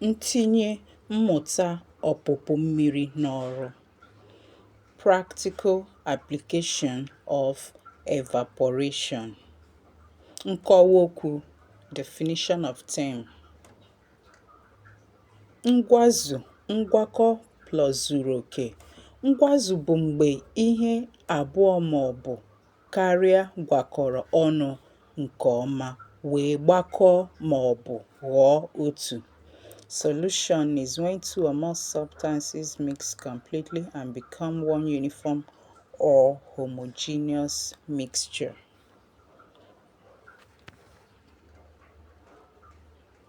Ntinye mmụ̀ta ọ̀pụ̀pụ mmiri n'ọrụ, practical application of evaporation. Nkọwa okwu, definition of term: Ngwazu, ngwakọ plus zuru oke. Ngwazu bụ mgbe ihe abụọ maọbụ karịa gwakọrọ ọnụ nke ọma wee gbakọọ ma ọ bụ ghọọ otu. Solution is when two or more substances mix completely and become one uniform or homogeneous mixture.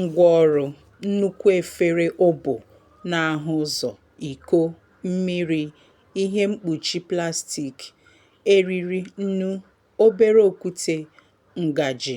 Ngwaọrụ, nnukwu efere obo na-ahụ ụzọ, iko, mmiri, ihe mkpuchi plastik, eriri, nnu, obere okwute, ngaji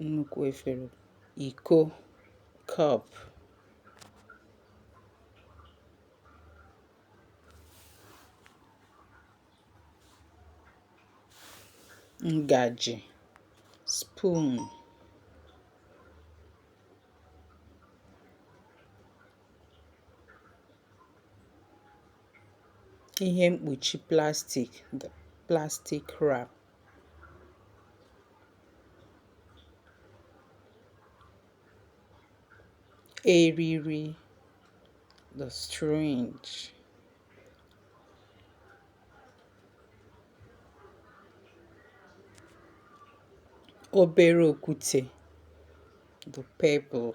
nnukwu efere iko cup ngaji spoon ihe mkpuchi plastik plastic wrap eriri the strange obere okwute the pebble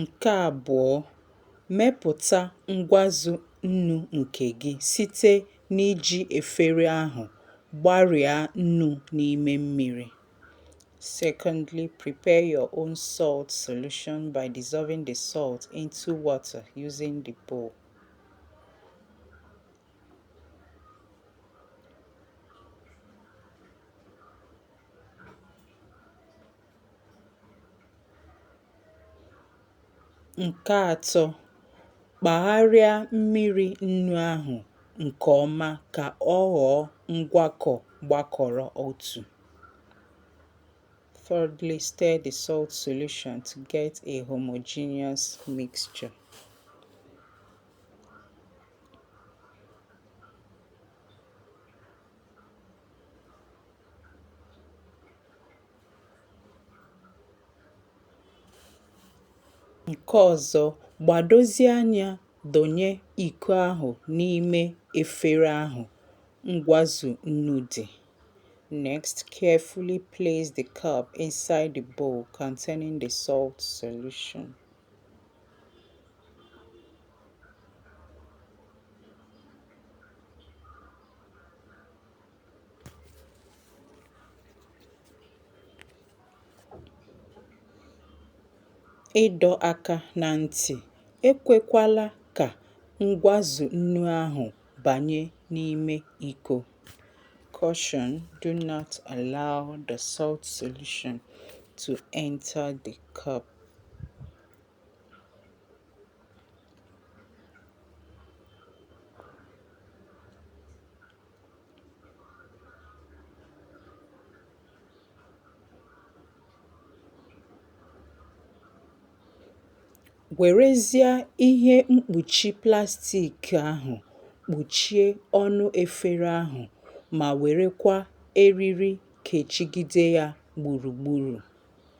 Nke abụọ, mepụta ngwazu nnu nke gị site n'iji efere ahụ gbarịa nnu n'ime mmiri. Secondly, prepare your own salt solution by dissolving the salt into water using the bowl. Nke atọ, kpagharịa mmiri nnu ahụ nke ọma ka ọ ghọọ ngwakọ gbakọrọ otu. Thirdly, stir the salt solution to get a homogeneous mixture. Nke ọzọ, gbadozie anya donye iko ahụ n'ime efere ahụ ngwazu nnu dị. Next, carefully place the cup inside the bowl containing the salt solution. ịdọ aka na ntị ekwekwala ka ngwazu nnu ahụ banye n'ime iko caution do not allow the salt solution to enter the cup Werezie ihe mkpuchi plastik ahụ kpuchie ọnụ efere ahụ ma werekwa eriri kechigide ya gburugburu.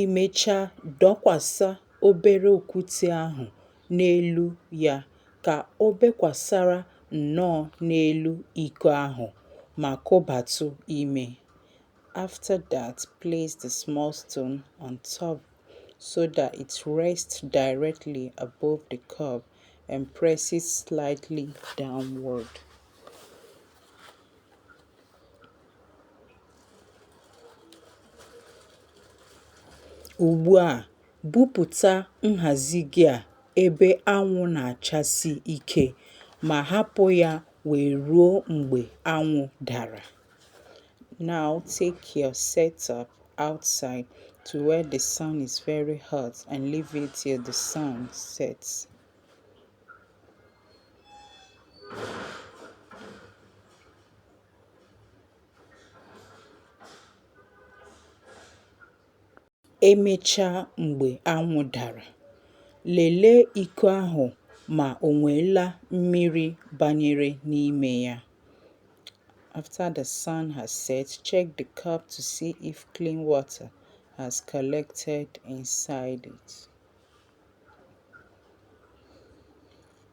i mechaa dọkwasa obere okwute ahụ n'elu ya ka o bekwasara nnọọ n'elu iko ahụ ma kobatụ ime. After that, place the small stone on top so that it rests directly above the cup and press it slightly downward. Ugbu a, bupụta nhazi gị a ebe anwụ na-achasi ike ma hapụ ya wee ruo mgbe anwụ dara. Now take your setup outside to where the sun is very hot and leave it till the sun sets. E mechaa mgbe anwụ dara, lelee iko ahụ ma o nweela mmiri banyere n'ime ya. After the sun has set, check the cup to see if clean water has collected inside it.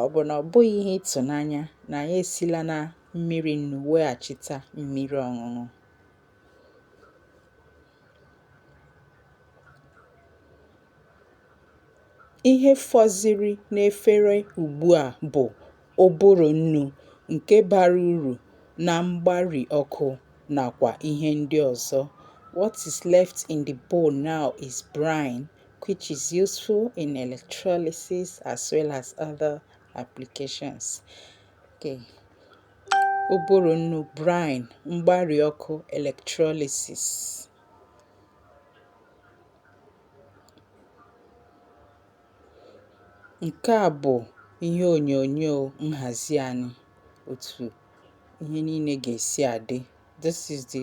Ọ bụ na ọ bụghị ihe ịtụnanya na anyị esila na mmiri nnu weghachita mmiri ọṅụṅụ? Ihe fọziri n'efere ugbu a bụ ụbụrụ nnu nke bara uru na mgbari ọkụ nakwa ihe ndị ọzọ. What is left in the bowl now is brine. which is useful in electrolysis as well as other applications. Okay. Ụbụrụ nnu brine mgbari ọkụ electrolysis. Nke a bụ ihe onyonyo nhazi anyị otu ihe niile ga-esi adị. This is the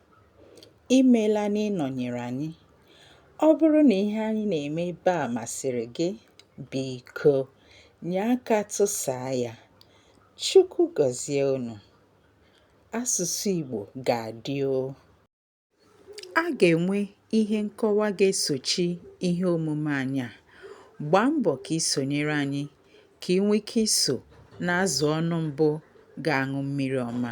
Imeela n'ịnọnyere anyị. Ọ bụrụ na ihe anyị na-eme ebe a masịrị gị, biko nye aka tụsaa ya. Chukwu gọzie unu. Asụsụ Igbo ga-adị o. A ga-enwe ihe nkọwa ga-esochi ihe omume anyị a. Gbaa mbọ ka i sonyere anyị ka i nwee ike iso n'azụ ọnụ mbụ ga-aṅụ mmiri ọma.